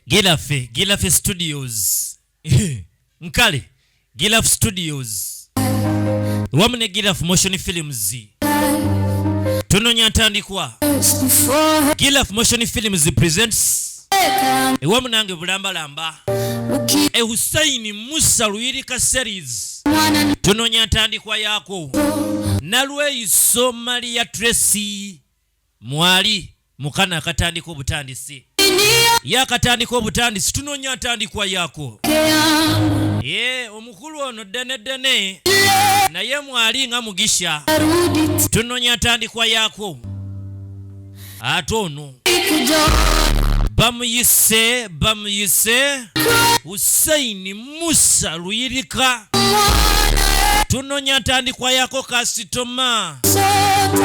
Gilafe, Gilafe Studios. Nkale, Gilafe Studios. Wamu ne Gilafe Motion Films. Tunonya ntandikwa. Gilafe Motion Films presents ewa munange bulambalamba e Hussein Musa Luyirika series tunonya ntandikwa yaako nalweyiso Maria Tracy mwali mukana akatandika obutandisi yakatandika obutandisi tunonya ntandikwa yako ye omukulu ono ddene ddene naye mwali nga mugisha tunonya ntandikwa yako ate ono bamuyise bamuyise husaini Musa Luyirika tunonya ntandikwa yako kasitoma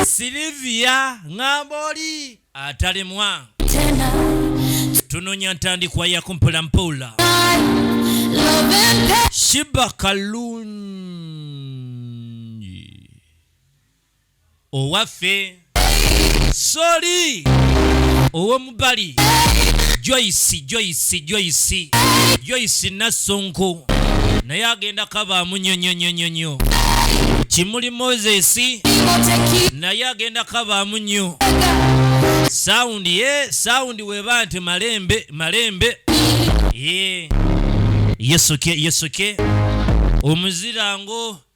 Silivia Ngamboli atalemwa tunonya ntandikwa yako mpolampola Shiba Kalungi owaffe soli owomubali joyce joyce joyce joyce nassonko naye agenda kabaamu nyonyonyonyonyo kimuli moses naye agenda kabaamu nnyo saundi ye eh, saundi weba nti malembe malembe ye eh. yesuke yesuke omuzirango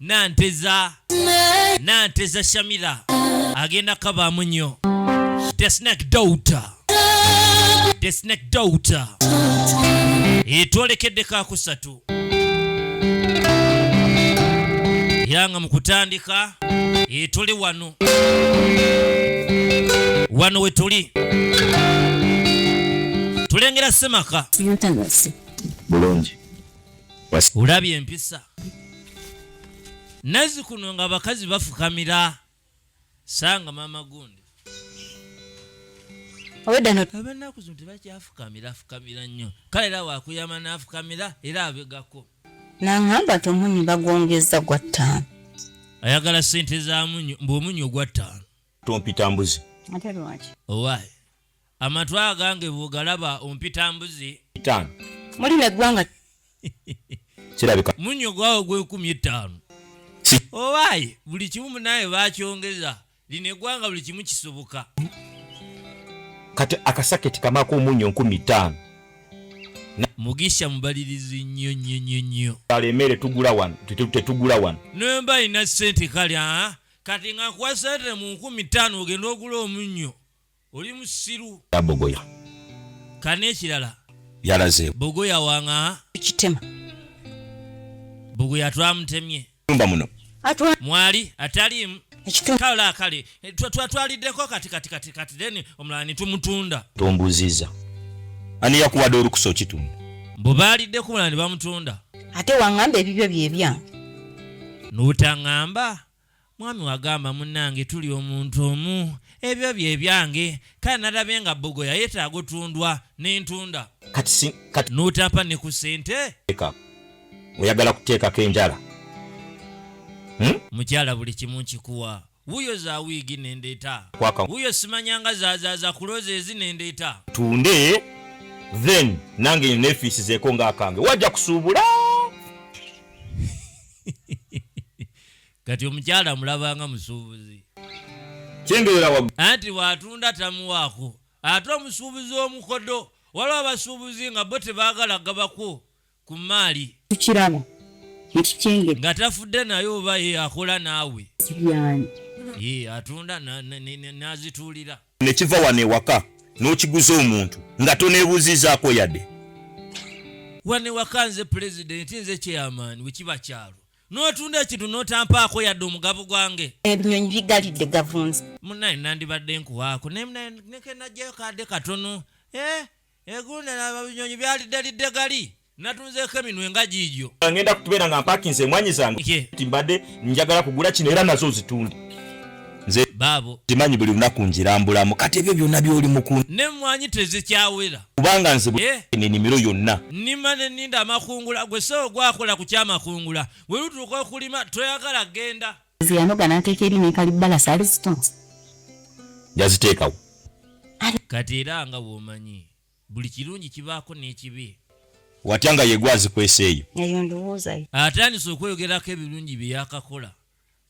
nanteza nanteza shamila agenda kabaamu nnyo the snake daughter the snake daughter etwolekeddeko akusatu era nga mu kutandika etuli wano wano wetuli tulengera semaka bulungi ulabye empisa nazi kuno nga abakazi bafukamira sanga mama gundi abanaku zino tebakyafukamira afukamira nnyo kale era wakuyama nafukamira era abegako nangamba nti omunyu bagwongeza gwa ttaano ayagala sente za munyu mbu omunyu ogwa ttaano tompita mbuzi ate lwaki owaayi Amatu agange bwogalaba ompita mbuzi. Itaano. Muli ne gwanga. Kirabika. Munyo gwawo gwekumi etaano. Owaye buli kimu munaye bakyongeza. Lino egwanga buli kimu kisoboka. Kati akasaketi kamako omunyo nkumi ttaano. Mugisha mubalirizi nnyo nnyo nnyo nnyo. Kale emere tugula wano tetugula wano. Nemba ina sente kali ah kati nga kwa sente mu nkumi ttaano ogenda ogula omunyo. oli musiru ya bogoya kana ekirala yalaze bogoya wanga kitema bogoya twamutemye nyumba muno atwa mwali atalimu kala kale eh, twatwaliddeko kati kati kati kati then omulala netumutunda tombuziza ani yakuwadde olukusa okitunda mbu baaliddeko omulala ne bamutunda ate wangamba ebibyo byebyange notangamba Mwami wagamba munange tuli omuntu omu ebyo bye byange kale narabye nga bogoya yetaga otundwa nentunda Kati si kati notampa ne ku sente. leka oyagala kuteekako enjala hmm? Mukyala buli kimu nkikuwa wuyo za wiigi nendeeta Kwaka. wuyo simanyanga zazaza kuloza ezi nendeeta tunde then nange nefiisizeeko nga akange wajja kusuubula kati omukyala mulabanga musuubuzi anti watunda tamuwaako ate omusuubuzi omukodo waliwo abasuubuzi nga bo tebaagala gabako ku maali tukiraba ekikyenge nga tafudde naye oba ye akola naawe sibyanyi ye atunda n'azituulira ne kiva wano ewaka n'okiguza omuntu nga toneebuuzizaako yadde wano ewaka nze pulezidenti nze kyeyamaani bwe kiba kyalo n'otunda ekintu n'otampaako yadde omugabo gwange ebinyonyi bigalidde gavunzi munaye nandibadde nkuwaako nekenajjayo kadde katono eh, egundalaba binyonyi byaliddelidde gali natunzeeko eminwe nga giigyo ngenda kutubeera nga mpakinze emwanyi zange ti mbadde njagala kugula kino era nazo zitunde nze baabo zimanyi buli lunaku njirambulamu kati ebyo byonna byoli mukun nemwanyi tezikyawera kubanga nze enimiro yonna nima ne ninda amakungula gwe soo gwakola ku kyamakungula bwe lutuuka okulima toyagala genda nze yanoga nateeka eri nekalibbala sali zitonzi yaziteekawo kati era nga womanyi buli kirungi kibaako n'ekibi watya nga yegwazikwesa eyo eyo ndowoozayo atandise okweyogerako ebirungi byeyakakola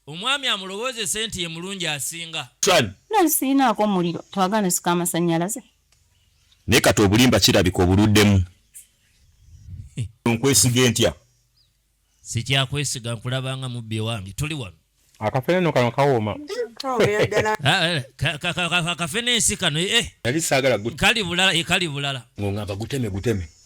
Omwami amulowoozese nti ye mulungi asinga. Tran. Nali sirinaako muliro twagala nsika amasannyalaze. Naye kati obulimba kirabika obuluddemu. Nkwesige ntya? Sikyakwesiga nkulaba nga mubbi owange. Tuli wano. Akafene no kano kawooma. Akafene ensi kano eh. Nali saagala. Kali bulala, eh, kali bulala. Ng'ongamba guteme guteme.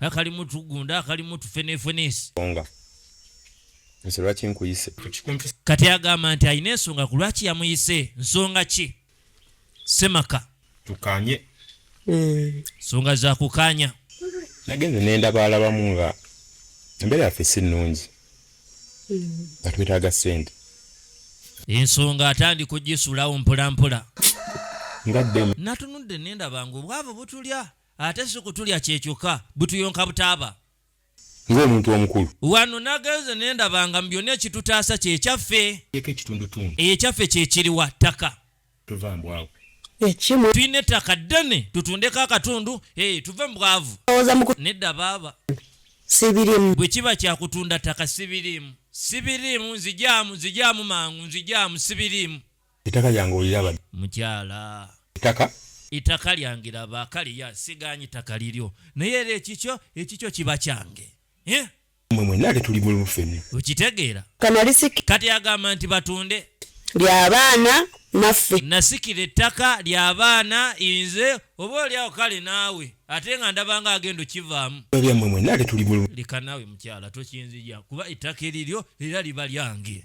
akalimu tugunda akalimu tufenefenesi nze lwaki nkuyise kati agamba nti alina ensonga ku lwaki yamuyise nsonga ki semaka tukanye eh. nsonga zakukanya nagenze nendaba alabamu nga embeera yaffe si nnungi hmm. nga twetaaga ssente ensonga atandika ogisulawo mpolampola natunudde nendabanga obwavu butulya ate si kutulya kye kyokka, butuyonka butaaba. Ng'omuntu omukulu. Wano nagenze ne ndaba nga mu byonna ekitutaasa kye kyaffe. Eeko ekitundutundu. Eyo ekyaffe kye kiriwa? Ttaka. Tuva mbwavu. Ekimu. Tulina ettaka ddene tutundeko akatundu, hee, tuve mu bwavu. Owoza muku. Nedda baaba. Sibirimu. Bwe kiba kya kutunda ttaka sibirimu. Sibirimu, nzigyamu, nzigyamu mangu, nzigyamu, sibirimu. Etaka lyange oliraba. Mukyala. Etaka. Etaka lyange laba kale ya siganyi taka liryo naye era ekikyo ekikyo kiba kyange eh? mwe mwenna ate tuli bulumu ffenna okitegeera kati agamba nti batunde lyabaana naffe nasikira ettaka lyabaana inze oba olyawo kale naawe ate nga ndabanga agenda okivaamu lyammwe mwenna ate tuli bulumu leka naawe mukyala tokinzija kuba ettaka eriryo era liba lyange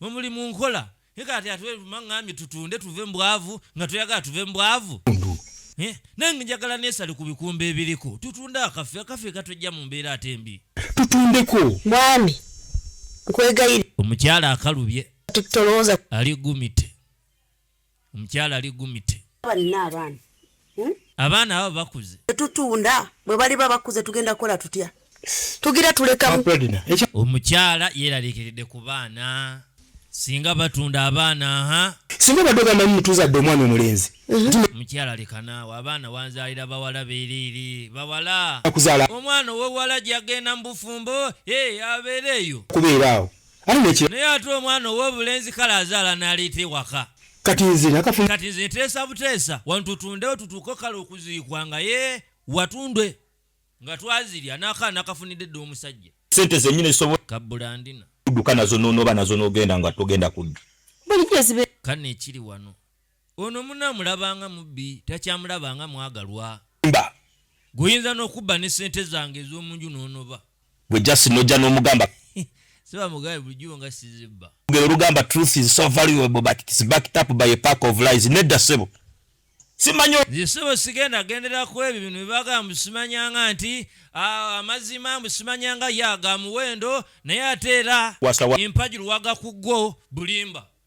Mwe muli mu nkola. Naye kati ate mang'ambye tutunde tuve mu bwavu nga toyagala tuve mu bwavu. Eh, nange njagala neesale ku bikumba ebiriko tutunde akaffe akaffe katujja mu mbeera ate mbi. Tutundeko. Mwami, nkwegayirira. Omukyala akalubye. Kati tolowooza. Ali gumite. omukyala ali gumite balina abaana hmm? abaana abo bakuze tetutunda bwe baliba bakuze tugenda kukola tutya tugira tulekamu omukyala yeeraliikiridde ku baana singa batunda abaana ha singa badde ogamanyi mutuzadde omwana omulenzi mhm. mukyala lekanaawo abaana wanzaalira bawala beeriiri bawala omwana owewala gyagenda mu bufumbo abeereeyo kubeeraawo naye ate omwana ow'obulenzi kale azaala n'aleeta ewaka kati nze nakafuna kati nze nteesa buteesa wano tutundewo tutuuke kale okuziikwa nga ye watundwe nga twazirya n'akaana kafunidde dda omusajja sente zenyini zisobola kabulandina kuduka nazo nonoba nazo nogenda nga togenda kudda kane ekiri wano Ono munno amulaba nga mubbi takyamulaba nga mwagalwa. Mba. Gwe oyinza n'okubba ne ssente zange ez'omu nju n'onoba. Gwe just n'ojja n'omugamba. Siba mugabe bulijjo nga sizibba. Olugero olugamba truth is so valuable but it's backed up by a pack of lies. Nedda ssebo. Simanyo. Nze ssebo sigenda gendera ku ebyo bino bibagamba mbu simanyanga nti ah, amazima mbu simanyanga ya ga muwendo naye ate era Wasawa. empagi luwaga ku gwo bulimba.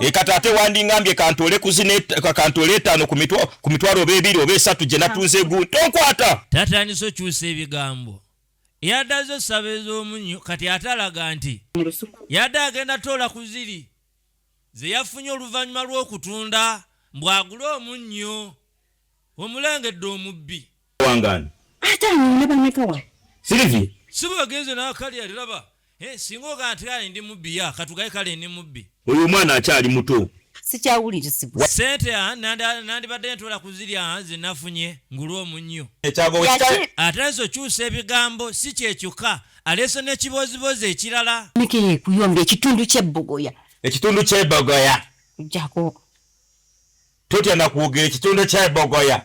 ekata ate wandingambye kantole kantole etaano ku mitwalo oba ebiri oba esatu gye natunze gu tonkwata tatandise okyusa ebigambo yadaze osaba ez'omunyo kati ate alaga nti yadde agenda toola ku ziri ze yafunye oluvannyuma lw'okutunda mbw'agule omunnyo omulengedde omubbi wangani ate anyina bameka wa silivia siba bagenze n'akali aliraba eh, singa ogaa nti kale ndi mubbi ya katugaye kale ndi mubbi oyo omwana akyali muto sikyawulirizibwa sente ah, nanda- nandibadde ntola ku zirya ah, zenafunye ngulu omunnyo ekyago Yaki- ate nze okyusa ebigambo si kye kyokka aleese n'ekiboozibozi ekirala meka yekuyomba ekitundu kyebbogoya ekitundu kyebogoya jako totya nakwogera ekitundu kyebogoya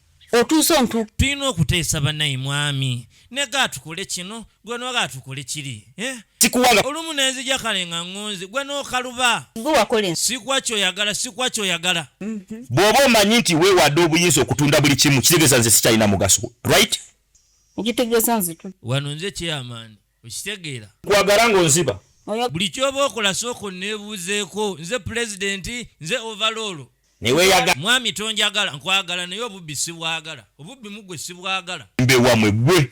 otuuse ontu tulina okuteesa banaye mwami nega atukole kino gwe noga atukole kiri eh? kikuwanga olumu nenzija kale nga ngonze gwe nokaluba gwe wakola ensi sikwa kyoyagala sikwa kyoyagala mhm. bwoba omanyi nti wewadde obuyinza okutunda buli kimu kitegeeza nze sikyalina mugaso right ngitegeza nzitu wano nze kyeyamaani okitegeera kwagala ng'onziba buli kyoba okola sooka onneebuuzeeko nze pulezidenti nze ovaloolo neweyaga mwami tonjagala nkwagala naye obubbi sibwagala obubbi mugwe sibwagala mbewamwe gwe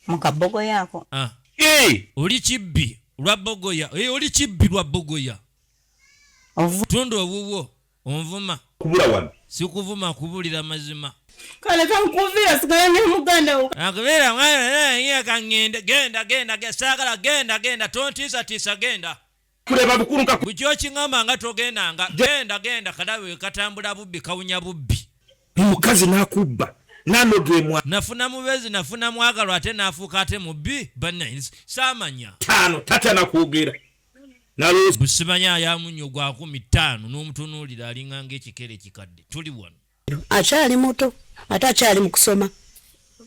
mukabogoya ako ah. oli kibbi lwa bogoya oli kibbi lwa bogoya tunda owuwo Onvuma. Kubula wano. Sikuvuma kubulira mazima. Kale kankuvira sigala ne muganda wo. Akubira mwana ya kangende genda genda genda sagala genda genda tontisa tisa genda. Kuleba bukuru nka. Bujo kingamba nga togenda nga genda genda kadawe katambula bubbi kawunya bubbi. Mukazi nakubba. Nano gemwa. Nafuna mubezi nafuna mwagalo ate nafuka ate mubbi. Banines. Samanya. Tano tata nakugera. busimanyi ayamu nnyo gwa kumi ttaano n'omutunuulira alinga ng'ekikere ekikadde tuli wano akyali muto ate akyali mu kusoma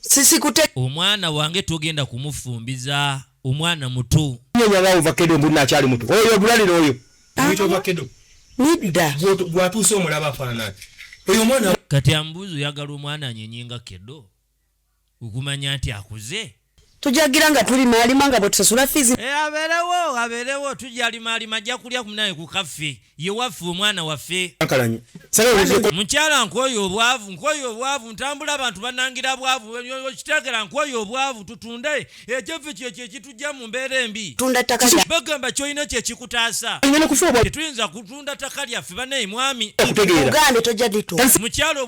sisikute omwana wange togenda kumufumbiza omwana muto nyonyaga ovakedo mbulina akyali muto oyo ogulalira oyo nidda gwatuuse omulaba afaanana oyo omwana kati ambuuzi oyagala omwana anyenyenga kedo okumanya nti akuze tujagira nga tuli maalima nga bwetusasula fiizi e, abeerewo abeerewo tujali maalima ajja kulya kunaye ku kaffe ye waffe omwana waffe mukyala nkwoyo obwavu nkwoyo obwavu ntambula abantu banangira bwavu okitegeera nkwoyo obwavu tutunde ekyaffe kyekyo ekitujja mu mbeera embi bagamba kyolina kyekikutaasa tetuyinza kutunda ttaka lyaffe banaye mwami mukyalo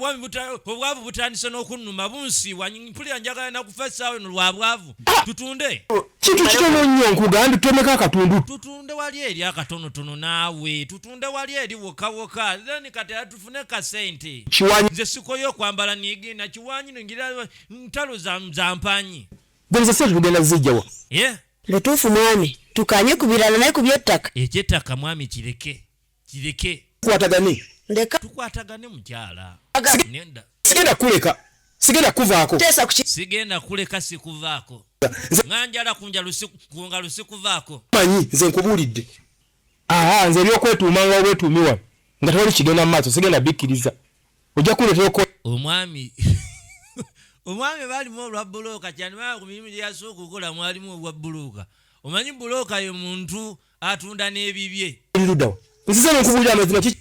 obwavu butandise n'okunnuma bunsiiwa mpulira njagala nakufa essaawa eno lwa bwavu ah! tutunde oh, kintu kitono nnyo nkugambye tutemeko akatundu tutunde wali eri akatonotono naawe tutunde wali eri wokawoka then kati atufune kasente nze sikoyo okwambala nigenda kiwanyi ngira ntalo zampanyi gwenze sente tugenda zijjawa yeah. lutuufu mwami tukanye ku birala naye ku byettaka ekyettaka mwami kireke kireke kwatagane ndeka tukwatagane mukyala nenda sigenda kuleka sigenda kuvaako teesa ku sigenda kuleka sikuvaako nganjala kunja lusiku kunga lusikuvaako manyi nze nkubuulidde aha nze ebyokwetuuma nga obwetuumi wano nga tewali kigenda mu maaso sigenda bikkiriza ojja kuleetera okola omwami omwami baalimu olwa bbulooka kyanibaa ku mirimu gye yasooka okukola mwalimu obwa bbulooka omanyi bbulooka ye muntu atunda n'ebibye ludawa nsize nokubulira amazima ki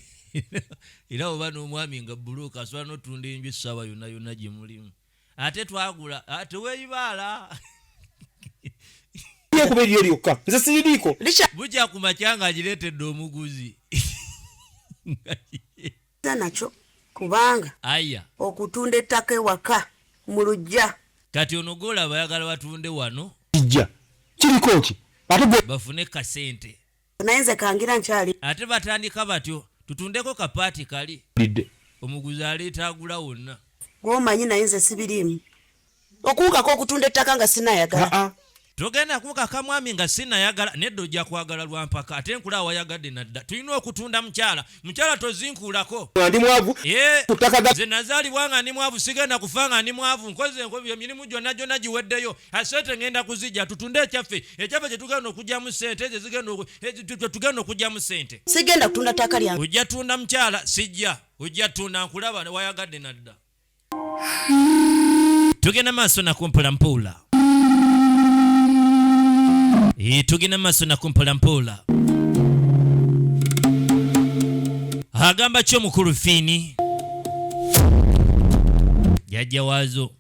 era oba n'omwami nga bbulooka asobola n'otunda enju essaawa yonna yonna gye mulimu ate twagula ah, teweyibaala kuba eryo lyokka nze siridiiko bukya ku makya nga agireetedde omuguzi nakyo kubanga aya okutunda ettaka ewaka mu lujja kati ono golaba ayagala batunde wano kijja kiriko ki ate bafune kasente naye nze kangira nkyali ate batandika batyo tutundeko kapaati kali omuguzi aleeta agula wonna gwomanyi naye nze sibiriimu okuwukako okutunda ettaka nga sinayagala togenda kuwukaka mwami nga sinayagala nedda ojja kwagala lwampaka ate nkula awayagadde nadda tulina okutunda mukyala mukyala tozinkuulako ndi mwavu nze nazaalibwa nga ndi mwavu sigenda kufa nga ndi mwavu nkoze emirimu gyonna gyonna giweddeyo asente ngenda kuzijja tutunde ekyaffe ekyaffe kyetugenda okugyamu sente ezo zigenda okugyamu sente sigenda kutunda ttaka lyange ojja tunda mukyala sijja ojja tunda nkulaba wayagadde nadda tugenda maaso nakumpola mpola tugenda maaso nakumpola mpola agamba ki omukulu fiini jajja waazo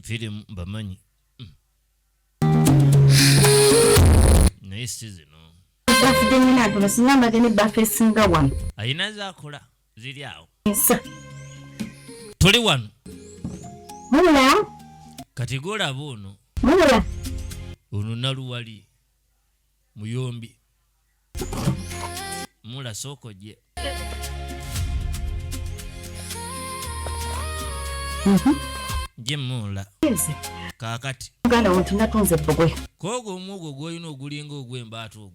firimu bamanyi naye si zino alina zaakola ziri awo tuli wano kati golaba ono ono naluwali muyombi mula soko je mhm. je mula kakati muganda wontu natunze bbugwe kogo omwogo gwolina ogulinga ogwembaata ogwo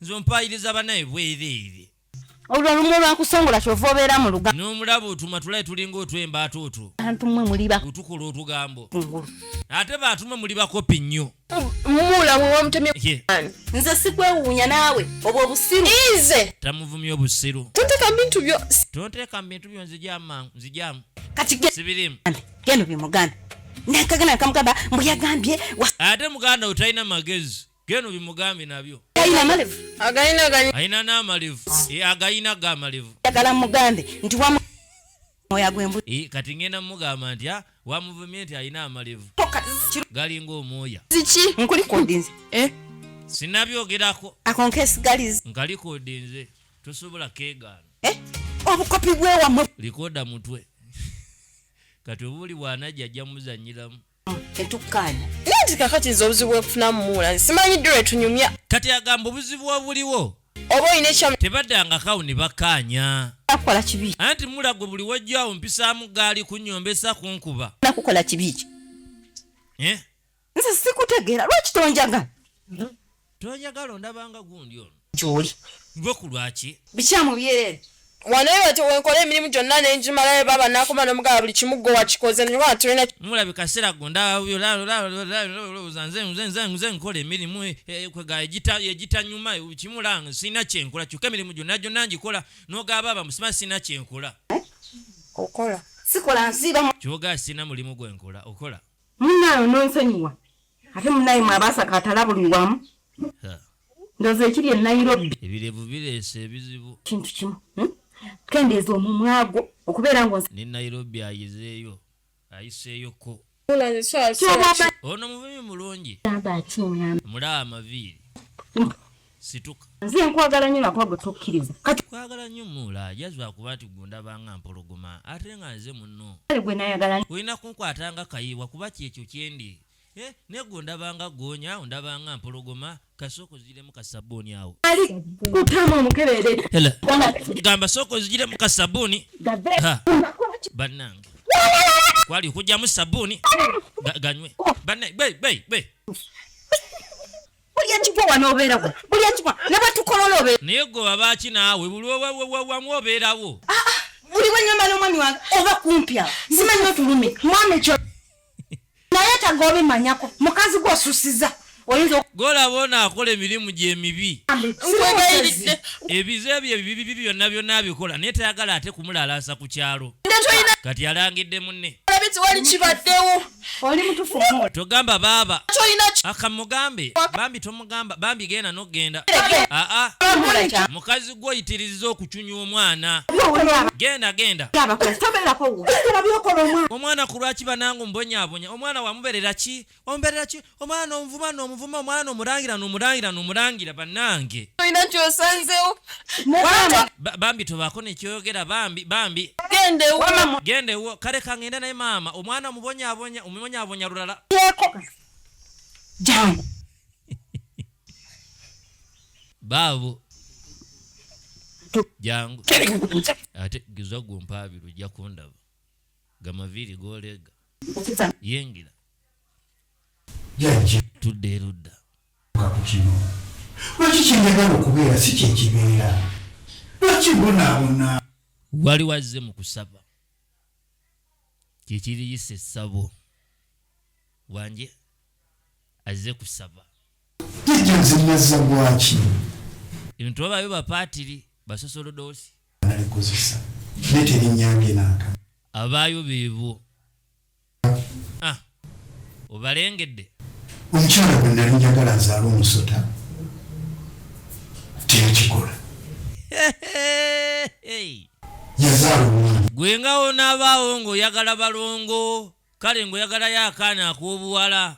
nze ompaayiriza banaye bwereere olwolumu lwakusongola kyova obeera mu luga n'omulaba otuma tulaye tulinga otwemba ate otwo antumwe muliba otukola otugambo ate baatuma muli bakopi nnyo nze sikwewuunya naawe obwo obusiru ize tamuvumya obusiru tonteka bintu byo tonteka bintu byo nzijamangu nzijamu kati sibirimu geno bimuganda nakagana kamugamba mbu yagambye ate muganda otalina magezi geno bimugambye nabyo alina n'amalevu agayina ga malevu eh, kati ngenda mugamba nti ah, wamuvumye nti alina amalevu galinga omwoya eh? sinabyogerako nkalikodinze tosobola kegaana eh? obukopi bwewamwe likoda mutwe kati obuli bwanajja ajja muzanyiramu tetukkaanya naye nti kakati nze obuzibu bwekufuna mumuula nze simanyi ddi lwetunyumya kati agamba obuzibu obuliwo oba olina ekyamu tebadangakawo ne bakkaanya akukola kibi anti mula gwe buli wajja awo mpisaamu gaali kunyombesa kunkuba nakukola kibi ki eh? nze sikutegeera lwaki tonjaga Tonyagala ondaba nga gundi ono. Gyoli. Gwe ku lwaki? Bikyamu byerere. Wano eyo te wenkola emirimu gyonna ne ngimalayo baba nakoma nomugaba buli kimu gwe wakikoze nyoba tulina mulabi kaseera go ndalowooza nze nze nze nze nkola emirimu e, e, kwega egita egitanyuma kimulanga sirina kyenkola kyokka emirimu gyonna gyonna ngikola nogaba baba musima sirina kyenkola okola sikola nsiiba kyoga sirina mulimu gwenkola okola munaano nonsonyiwa ate munaye mwabasa katala buli wamu ndoza ekiri e nairobi ebirevu bireese ebizibu kintu kimu hmm? kendeeza omumwago okubeera ngo ne nairobi ayizeeyo ayiseeyoko ono mubibi mulungi mulaa amaviiri situka nze nkwagala nyo nakuba gwe tokkiriza kati kwagala nyo muula jazwa kuba nti gundaba nga mpologoma ate nga nze munno gwe nayagala nyo olina kunkwata nga kayiwa kuba kyekyo kyendi eh, negwe ondaba nga goonya ondaba nga mpologoma kasooka ozijiremu kasabuuni awo ali kutamu omukebeere gamba sooka ozijiremu kasabuuni bannange kwali okujjamu sabuuni ganywe bannange buli ekigwa wano obeerawo buli ekigwa ne bwe tukolola obeera naye gwe babaaki naawe buli wamu obeerawo ah, ah, buli bwe nyamba n'omwami wange oba kumpya simanyi otulumi mwami ekyo naye taga obimanyako mukazi gwe osusiza golaba ono akola emirimu gyemibi ebize ebyo ebibibi byonna byonna abikola naye tayagala ate kumulalaasa ku kyalo kati alangidde munne oli mutufu mu togamba baaba kyolina akamugambe bambi tomugamba bambi genda nogenda aa mukazi gwo yitiriza okucunya omwana genda genda omwana ku lwaki banange ombonyabonya omwana wamuberera ki omberera ki omwana nomuvuma nomuvuma omwana nomulangira nomulangira nomulangira banange olina kyosanzewo bambi tobaako nekyoyogera bambi bambi genda ewo kale kangende naye maama omwana omubonyabonya omubonyabonya lulala baabo jangu ate giza gwompaabira ojja kundaba gamaviiri goleega yengira jajja tudde erudda ku kino lwaki kyenjagala okubeera si kyekibeera lwaki mbonaabona wali wazze mu kusaba kyekiriyisa essabo wanje azze kusaba jajja nze nazza gwaki ebintu babayo bapaatiri basosolodoosi nalikozesa naye terinyambye naaka abaayo beebo Ah, obalengedde omukyala bwe nali njagala azaala omusota teyakikola yazaala omwana gwe nga onaabaawo ng'oyagala balongo kale ng'oyagalayo akaana ak'obuwala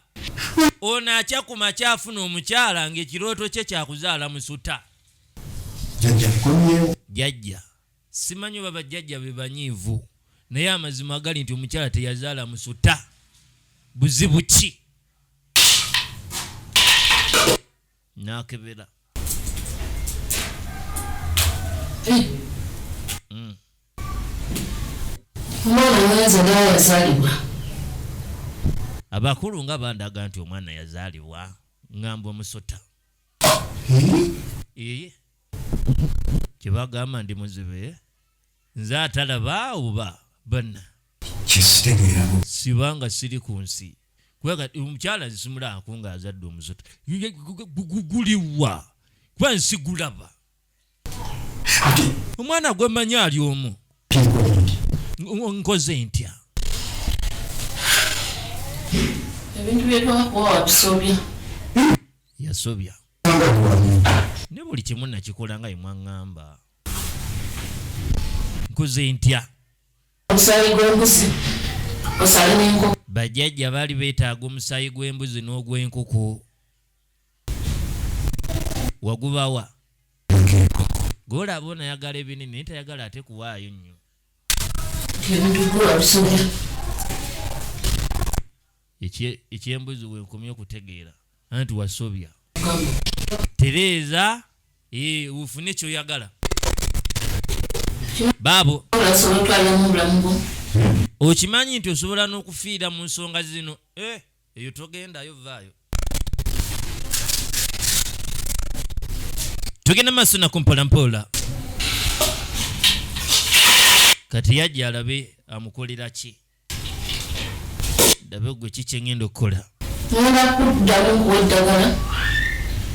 ono akya ku makya afuna omukyala ng'ekirooto kye kyakuzaala musuta jajja Simanyi oba bajjajja be banyiivu naye amazima agali nti omukyala teyazaala musuta buzibu ki nakebera hmm. omwana mwenze naye yazalibwa abakulu nga bandaga nti omwana yazalibwa ngamba omusota hmm? eye kyebagamba ndi muzibe nze atalaba oba banna sibanga siri ku nsi kubanga omukyala nsimulako nga azadde omusoto guliwa kuba nsi gulaba omwana gwemanyi ali omu nkoze ntya ebintu byetwakuwa watusobya yasobya ne buli kimu nakikola nga yemwaŋŋamba nkuze ntya omusaayi gw'embuzi omusaayi n'enkoko bajjajja baali beetaaga omusaayi gw'embuzi n'ogw'enkoko wagubawa gwolaba onayagala ebinene naye tayagala ate kuwaayo nnyo ekyembuzi wenkomye okutegeera anti wasobya tereeza eh, ufune kyoyagala baabo okimanyi nti osobola n'okufiira mu nsonga zino eh, eyo togendayo vaayo tugenda maaso nako mpolampola kati yajja alabe amukolera ki ndabe gwe ki kyengenda okukola ngenda kuddamu kuwa eddagala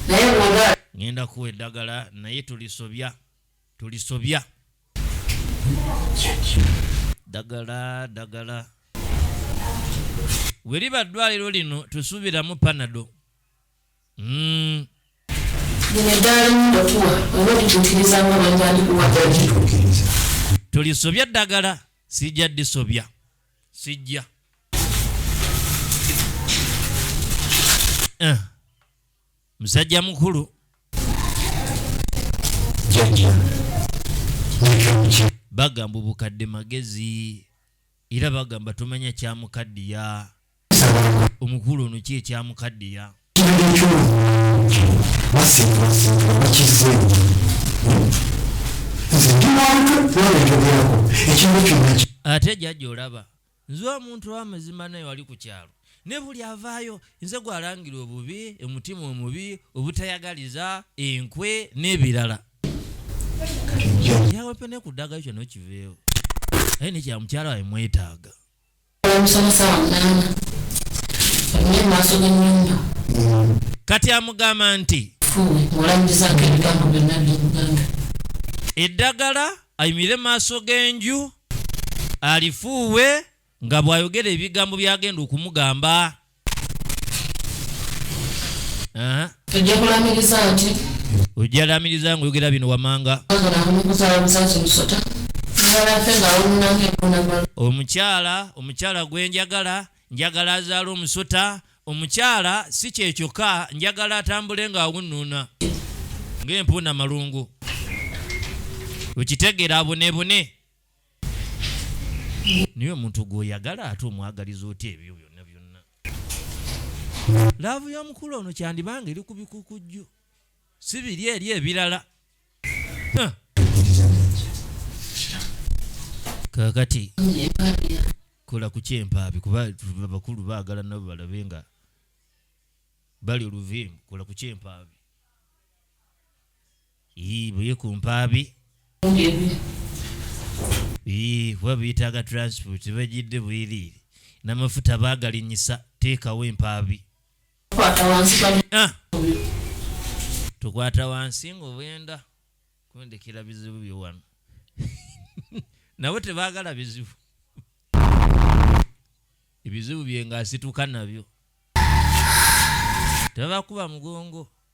naye bwoba ngenda kuwa eddagala naye tulisobya tulisobya dagala dagala weriba ddwaliro lino tusuubiramu panado tulisobya ddagala sijja disobya sijja eh. musajja mukulu bagamba obukadde magezi era bagamba tumanya kyamukaddiya omukulu ono ki ekyamukaddiya basinzibwasinzibwa bakizze nze ndi wantu nalekyogerako ekintu kyonna ate jajja olaba nze omuntu wamazima naye wali ku kyalo ne buli avaayo nze gwalangira obubi omutima omubi obutayagaliza enkwe n'ebirala yawepe ne ku ddagayo kyonna okiveewo aye nekyamukyalo awe mwetaaga kati amugamba nti eddagala ayimirire maaso g'enju alifuuwe nga bw'ayogera ebigambo by'agenda okumugamba tujja kulamiriza nti ojja lamiriza nga oyogera bino wamanga omukyala omukyala gwenjagala njagala azaala omusota omukyala si kyekyokka njagala atambule nga awunuuna ng'empuuna malungu okitegeera abonebone naye omuntu gwoyagala ate omwagaliza otya ebyo byonna byonna laavu yomukulu ono kyandibanga eri ku bikukujju si biri eri ebirala kakati kola ku kyempaabi kuba abakulu baagala nabo balabe nga bali oluviimu kola ku kyempaabi Ii, buye ku mpaabi. Ii, kuba biyitaaga transport tebajidde bwiriiri n'amafuta baagalinyisa teekawo empaabi. Ah! Tukwata wansi ng'obwenda kundekera bizibu byo wano nabo tebaagala bizibu ebizibu bye ng'asituka nabyo tebabakuba mugongo.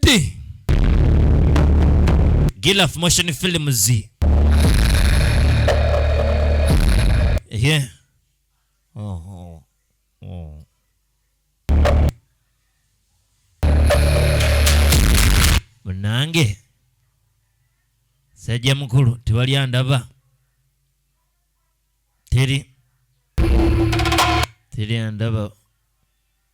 T. Gilaf Motion Films. Yeah. Oh, oh, oh. Munange. Sajja mukulu tewali andaba. Teri. Teri andaba.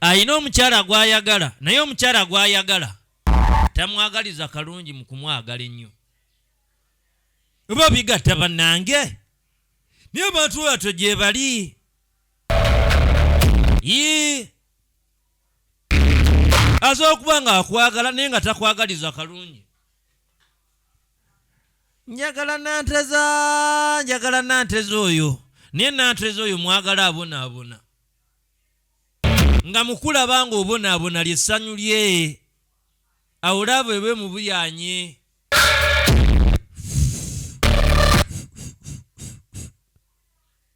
alina omukyala gw'ayagala naye omukyala gw'ayagala tamwagaliza kalungi mu kumwagala ennyo oba bigatta bannange naye abantu batyo gye bali yii aza okuba nga akwagala naye nga takwagaliza kalungi njagala nanteza njagala nanteza oyo naye nanteza oyo mwagala abonaabona nga mukulaba nga obonaabona lyessanyu lye awo laabo ebe mubuyanye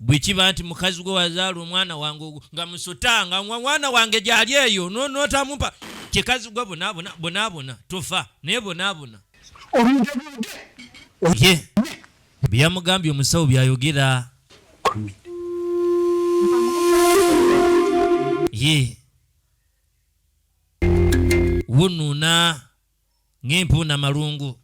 bwe kiba nti mukazi gwe wazaala omwana wange ogwo nga musuta nga mwana wange gyali eyo notamumpa kikazi gwe bonabona bonabona tofa naye bonabona ye byeyamugambye omusawo byayogera ye wunuuna ng'empuuna malungu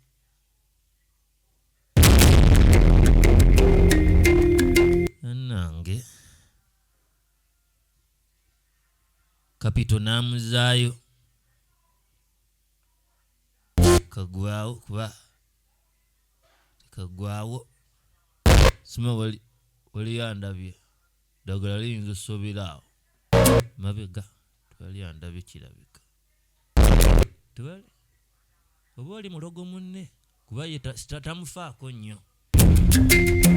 nange kapito n'amuzaayo kagwawo kuba kagwawo sima waliyandabye ddagala liyinza osobera awo mabega twaliyandabye kirabika tebale oba oli mulogo munne kuba ye tamufaako nnyo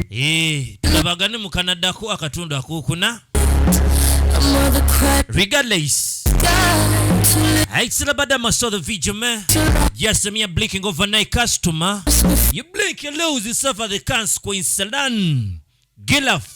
eh, tulabagane mu kanadako akatundu akokuna regardless I still about them, I saw the video, man. Yes, I'm here blinking overnight customer. You blink, you lose yourself at the consequence. Salan. Gilaf.